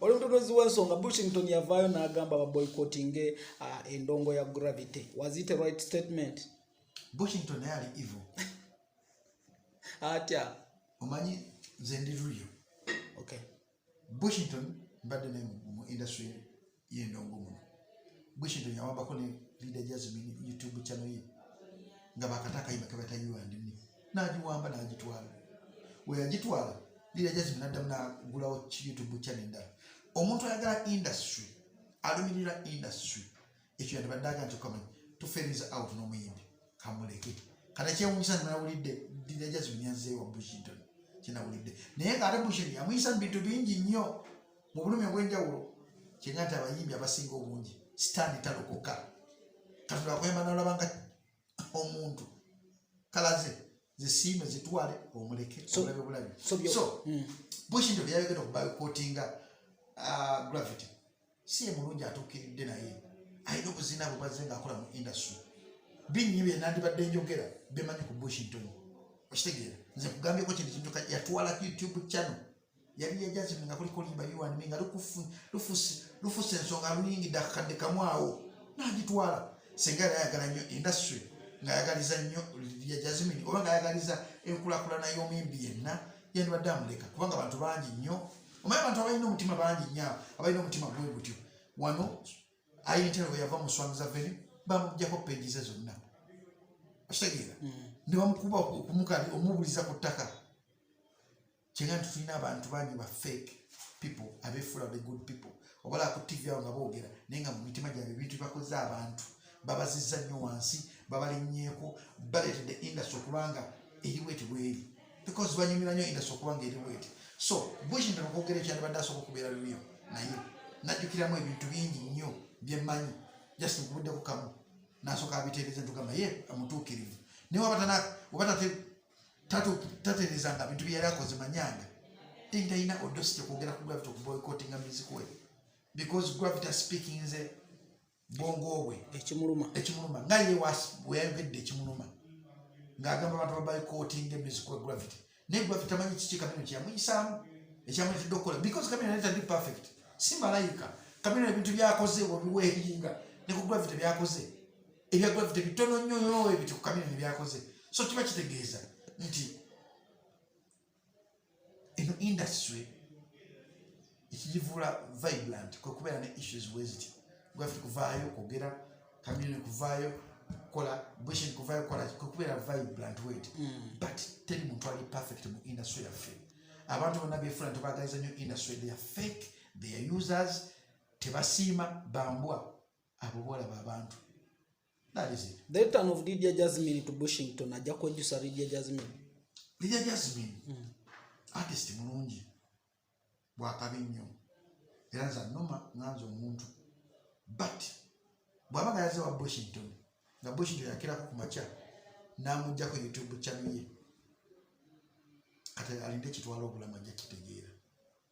oli mutondozi w'ensonga bushington yavaayo n'agamba baboycottinge uh, endongo ya gravity was it a right statement bushington naye ali evil atya omanyi nze ndi ruyo okay bushington mbadde naye mu industry yendongo muno bwekino yawambako ne lida jasmin youtube chano ye nga bakata akayimba kebata yuandimi nagiwamba nagitwala weyagitwala lida jasmin addamu nagulawo youtube chano endala omuntu ayagala industry alumirira industry ekyo yandibaddaga nti okamanyi tuferiza out nomuyimbi kamuleke kata kyewunyisa nawulidde lida jasmin yazeewa bushington kyenawulidde naye nga ate bushington yamuyisa mu bintu bingi nnyo mu bulumi obwenjawulo kyenga nti abayimbi abasinga obungi sitaani talokoka katonda akuyamba nolaba nga omuntu kalaze zisiime zitwale omuleke obulabe bulabi so hmm. bushinto byayogera okubakotinga uh, gravity si emulungi atuukiridde naye alina obuzina bubazze ngaakola mu industry binnyi byenandibadde njogera bemanyi ku bushington okitegeera nze kugambyeko kintu kintu yatwala youtube channel yali yajazimu nga kuliko limba yuwanimi nga lufusa ensonga luyingidde akakadde kamu awo nagitwala singa yali ayagala nnyo industry ngaayagaliza nnyo ya jazimini oba ngaayagaliza enkulakulana y'omuyimbi yenna yandibadde amuleka kubanga abantu bangi nnyo omanyi abantu abalina omutima bangi nnyo abalina omutima gwe gutyo wano ayintero weyava mu swami zaveni bamujjako peegize zonna okitegeera mm. ne bamukuba okumukabi omubuliza ku ttaka kyega nti tulina abantu bangi ba fake people abefula the good people obala ku tv awo nga boogera naye nga mu mitima gyabwe ebintu bibakoze abantu babazizza nnyo wansi babalinnyeko baleetedde industry okubanga eriweti bweri because banyumira nnyo industry okubanga eriweti so bushington okwogera ekyandibadde asobola okubeera luliyo naye najjukiramu ebintu bingi nnyo byemmanyi just nkubuddeko kamu nasooka abiteereza ntugamba ye amutuukirivu naye wabatana obatate taterezanga bintu byeyali akoze manyanga tendalina odosite kwogera ku gravity okuboycottinga music we because gravity speaking nze bwongo bwe ekimuluma ekimuluma nga ye weyayogedde ekimuluma ng'agamba abantu baboycottinga music we gravity naye gravity amanyi kiki kamino kyeyamuyisaamu ekyamuyitidde okukola because kamino naye tandi perfect si malayika kamino ebintu byakoze wabiweeyinga ne ku gravity byakoze ebya gravity bitono nnyo nyo ebiti ku kamyoni byakoze so kiba kitegeeza nti eno industry ekigivula vibrant kwe kubeera ne issues weziti gravity kuvaayo kwogera kamyoni kuvaayo kukola bushing kuvaayo kukola kwe kubeera vibrant wet hmm. but teri muntu ali perfect mu industry yaffe abantu bonna befula nti bagaliza nnyo industry they are fake they are users tebasiima bambwa abo bolaba abantu that is it the return of lydia jasmine to bushington ajja kwejjusa lydia jasmine lydia jasmine mm. artist mulungi bwakabi nnyo era nza noma nganza omuntu but bwaba nga yaze wa bushington nga bushington yakirako ku makya namugjako youtube channel ye kati alinde kitwala obulamu ajja kitegeera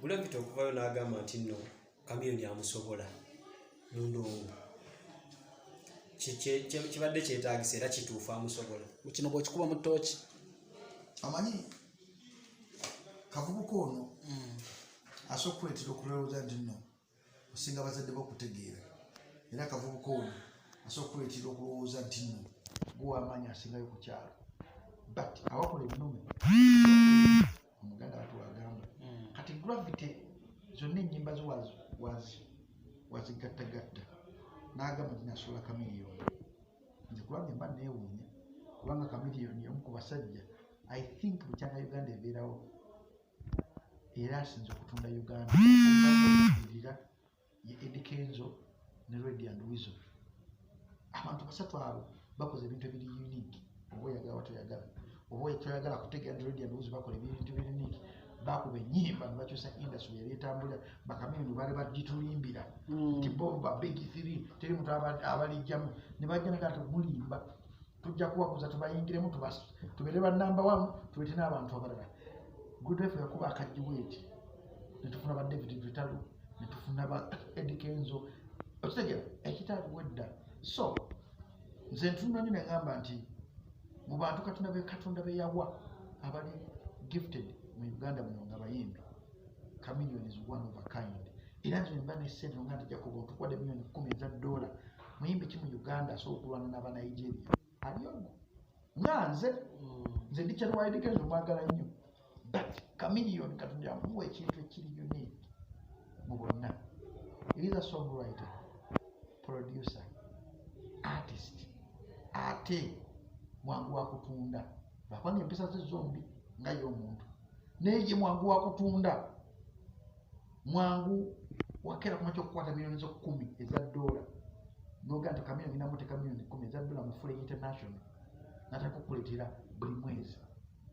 bulabita okuvayo n'agamba nti nno kamiyoni amusobola mundongo kibadde kyetagisa era kituufu amusobola kino bwekikuba mu tooki amanyi kavubuka ono mm. asobola okuleetera okulowooza nti nno osinga abazadde bo okutegeera era akavubuka ono asobola okukuleetera okulowooza nti no gwewamaanyi asingayo ku kyalo but awakola ennume omuganda watu wagamba hmm. kati gravity zonna ennyimba zo wazigattagatta n'agamba nti nasuula kamiliyoni nze kubanga emba neewuunya kubanga kamiliyoni omu ku basajja i think bukyanga uganda ebeerawo era asinze okutunda uganda irira ye edikenzo ne redi and wiso abantu basatu abo bakoze ebintu ebiri unique oba oyagala watoyagala oba ekyoyagala kutegera nti redi and wiso bakola ebintu biri unique bakuba enyimba nebakyusa industry yali etambulira bakamiyuni bali bagitulimbira mm. nti bo babegi three teri muntu abalijjamu nebajja nega nti mulimba tujja kubaguza tubayingiremu tubeere banamba wamu tubeete n'abantu abalala gudwefe yakuba akajiweeti netufuna ba david vitalu netufuna ba edikenzo okitegera ekitaabu wedda so nze ntunanyo negamba nti mu bantu katonda be katonda beyawa abali gifted mu uganda muno nga bayimbi chameleon is one of a kind era nze mba ne sente nga nti jakobo ntukwade million kumi eza dola muyimbi ki mu uganda asobola okulwana naba nigeria aliogo nga nze mm. nze ndikyalwalidikeza omwagala nnyo but chameleon katonda yamuwa ekintu ekiri unique mu bonna eriza songwriter producer artist ate mwangu wakutunda lwakwanga empisa ze zombi nga ye omuntu naye ye mwangu wakutunda mwangu wakera kumakya okukwata miliyoni zo kumi eza dola noga nti kamiyoni namuteka miliyoni kumi eza dola mufule international natakukuletera buli mwezi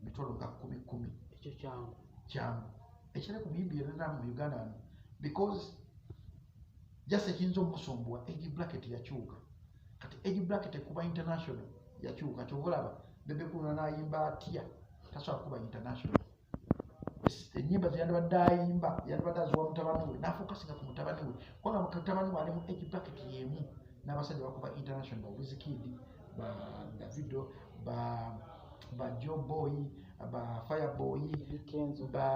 mitolo nga kumi kumi ekyo kyangu kyangu ekitali ku biyimbi yonana mu uganda wano because just ekiyinza omusumbuwa egi bracket yakyuka kati age bracket ekuba international yakyuka kyova olaba bebe kuluna nayimba atya tasobola kuba international enyimba zeyandibadde ayimba yandibadde aziwa mutabani we nafokasinga ku mutabani we kubanga mutabani we ali mu age bracket yemu n'abasajja bakuba international ba wizkid ba davido ba ba joe boy ba fire boy ba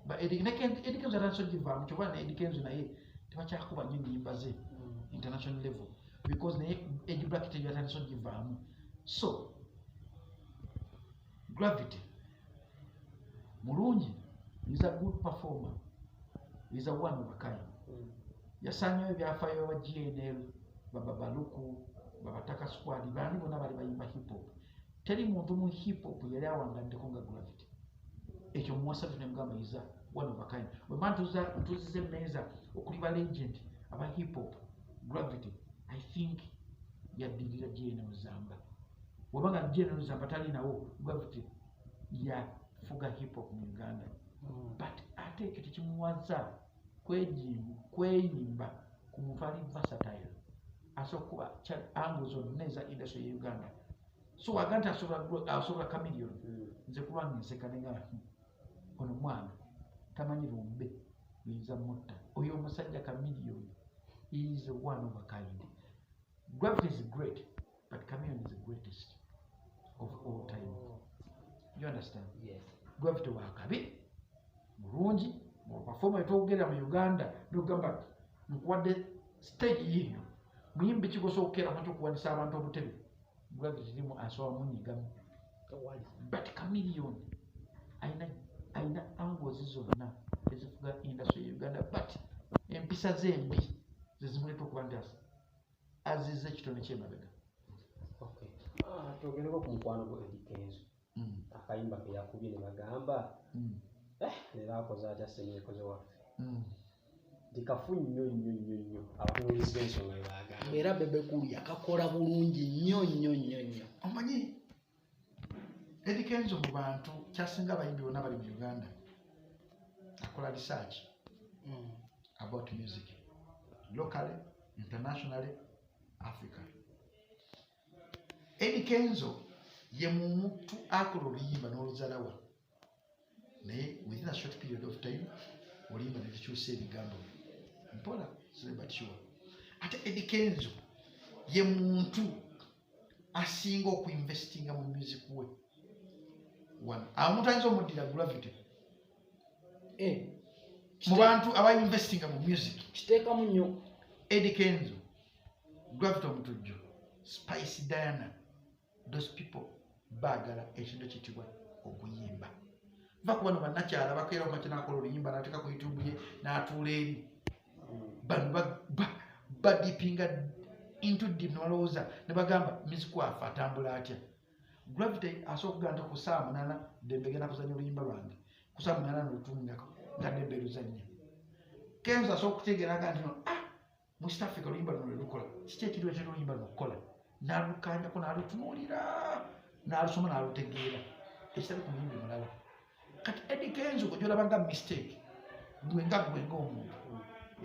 ba edikenzo atanso givaamu kyova ne edikenzo naye tebakyakuba nyo nyimba ze international level because naye age bracket eyo yatandise ogivaamu so gravity mulungi is a good performer is a one of a kind mm. yasanyayo ebyafayo aba gnl bababaluku babataka squad bani bona bali bayimba hip hop teri muntu mu hip hop yali awangaddeko nga gravity ekyo muwasa tune mugamba iza one of a kind wema ntuziza emmeeza okuli ba legend aba hip hop gravity i think yaddirira jena ozamba wabanga jena ozamba tali nawo gravity yafuga hip hop mu uganda mm. but ate ekyo tekimuwaza kweyimba ku muntu ali vasatile asobola kuba ango zonna eza industry ye uganda so waga nti asobola kamilion hmm. nze kulwanga enseka nenga hmm, ono mwana tamanyi lumbe luyinza mutta oyo omusajja kamilion is one of a kind gravity is great But Chameleon is the greatest of all time. You understand? Yes. Gwafite wakabi mulungi mu performa etwogera mu Uganda nogamba nkuwadde stage yiyo muyimbi kigosa okukeeramu kyokuwanisa abantu obutebe gwafite kirimu asoba munyigamu but Chameleon alina alina angles zonna ezifuga industry ya Uganda but empisa ze mbi zezimuleeta okuba nti aziza ekitone kyemabega ah, twogereko ku mukwano gwe edikenzo mm. akayimba keyakubye ne bagamba mm. eh, leero akoze atya senekoze waffe mm. ndikafu nnyo nnyo nnyo nnyo abatunulizi bensonga bebagamba era bebekulya kakola bulungi nnyo nnyo nnyo nnyo omanyi Eddy Kenzo mu bantu kyasinga abayimbi bonna bali mu Uganda akola research mm. about music locally internationally Africa Eddy Kenzo ye muntu akola oluyimba n'oluzalawa naye within a short period of time olimba netukyusa ebigambo byo mpola sibebatyuwa ate edikenzo ye muntu asinga okuinvestinga mu music we one amuntu ayinza omuddira gravity eh, mu bantu abainvestinga mu music kiteekamu nnyo edikenzo gravity omutujjo spice diana those people bagala ekintu ekitibwa okuyimba va ku bano banakyala bakeera omakinakola oluyimba nateeka ku youtube ye natuula eri bano badipinga into dim nebalowooza nebagamba mizikwafe atambula atya gravity asobola okugamba nti ku saa munana dembe genda kuzanya oluyimba lwange ku saa munana nolutunga nga dembe luzanya kenzo asobola okutegeeraga nti no ah mu east africa oluyimba luno lwelukola kiki ekiriwo kyona oluyimba luno okukola nalukanyako nalutunuulira nalusoma nalutegeera ekitali ku muyimbi mulala kati edi kenzo ojolaba nga mistake gwe nga gwe nga omuntu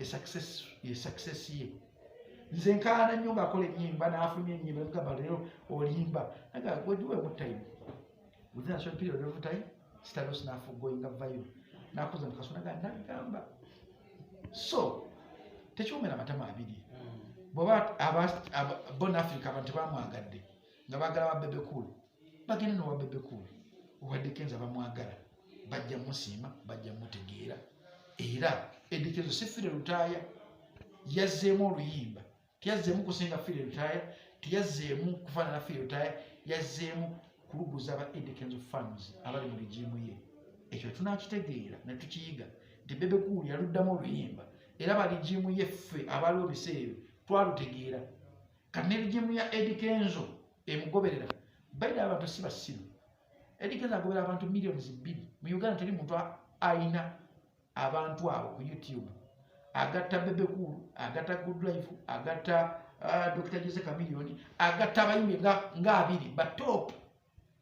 esuccess ye nze nkaana nnyo ngaakola enyimba nafunye enyimba mugamba leero olimba aga weduwe mutayimu within a short period of time sitali osi nafugoinga vayo nakuza mukasona ga nagamba so tekiwomera amatama abiri bwoba bon africa abantu tebamwagadde nga bagala ba bebe cool bagenda nowa bebe cool obadde kenza bamwagala bajja musiima bajja mutegeera era edikenzo sifire lutaaya yazzeemu oluyimba teyazzeemu kusinga firi eritaaya teyazzeemu kufaanana firi eritaaya yazzeemu kuluguza aba edikenzo farms abali mu ligiimu ye ekyo tunakitegeera ne tukiyiga nti bebekuuli yaluddamu oluyimba era baligiimu ye ffe abaaliwo biseera ebyo twalutegeera kati ne ligiimu ya edikenzo emugoberera baida abantu si basiru edikenzo agoberera abantu millions bbiri mu uganda teri muntu ayina abantu abo ku youtube agatta bebekulu agatta goodlife agatta uh, dr jose camilioni agatta abayimbi nga abiri batop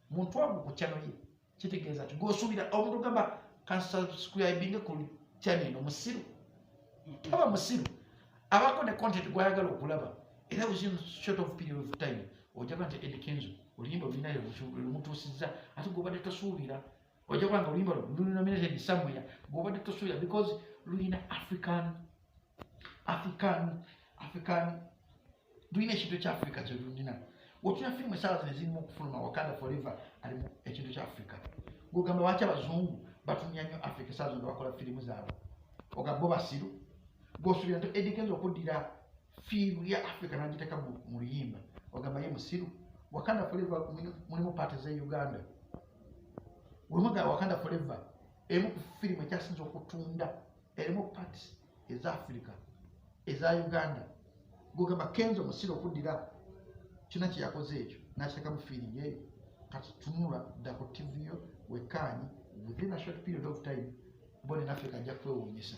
muntu wagu ku chano ye kitegeeza ti gosubira omuntu gamba kansubscribinge ku chano eno musiru taba musiru abako ne content gwayagala okulaba era within short of period of time ojaba nti edikenzo oluyimba olinayo lumutuusiza ate gobadde tosuubira ojja kulanga oluyimba lunominated somewhere bwobadde tosuubira because lulina african african african lulina ekintu ekya africa kyelulina otuna firimu esaala zino ezirimu okufuluma wakanda forever alimu ekintu kya africa gogamba lwaki abazungu batumya nnyo africa esaala zino bakola firimu zaabwe ogamba bo basiru gosubira nti edikenza okuddira fiimu ya africa nagiteka mu luyimba ogamba ye musiru wakanda foreva mulimu paati ze uganda wemuga wakanda foreva emu ku firimu ekyasinza okutunda erimu paati eza africa eza uganda gogamba kenzo musiru okuddira kyona kyeyakoze ekyo nakiteka mu fiirimu eyo kati tunula dda ku tivi yo wekaanyi within a short period of time mbone naffe kajja kwewuunyisa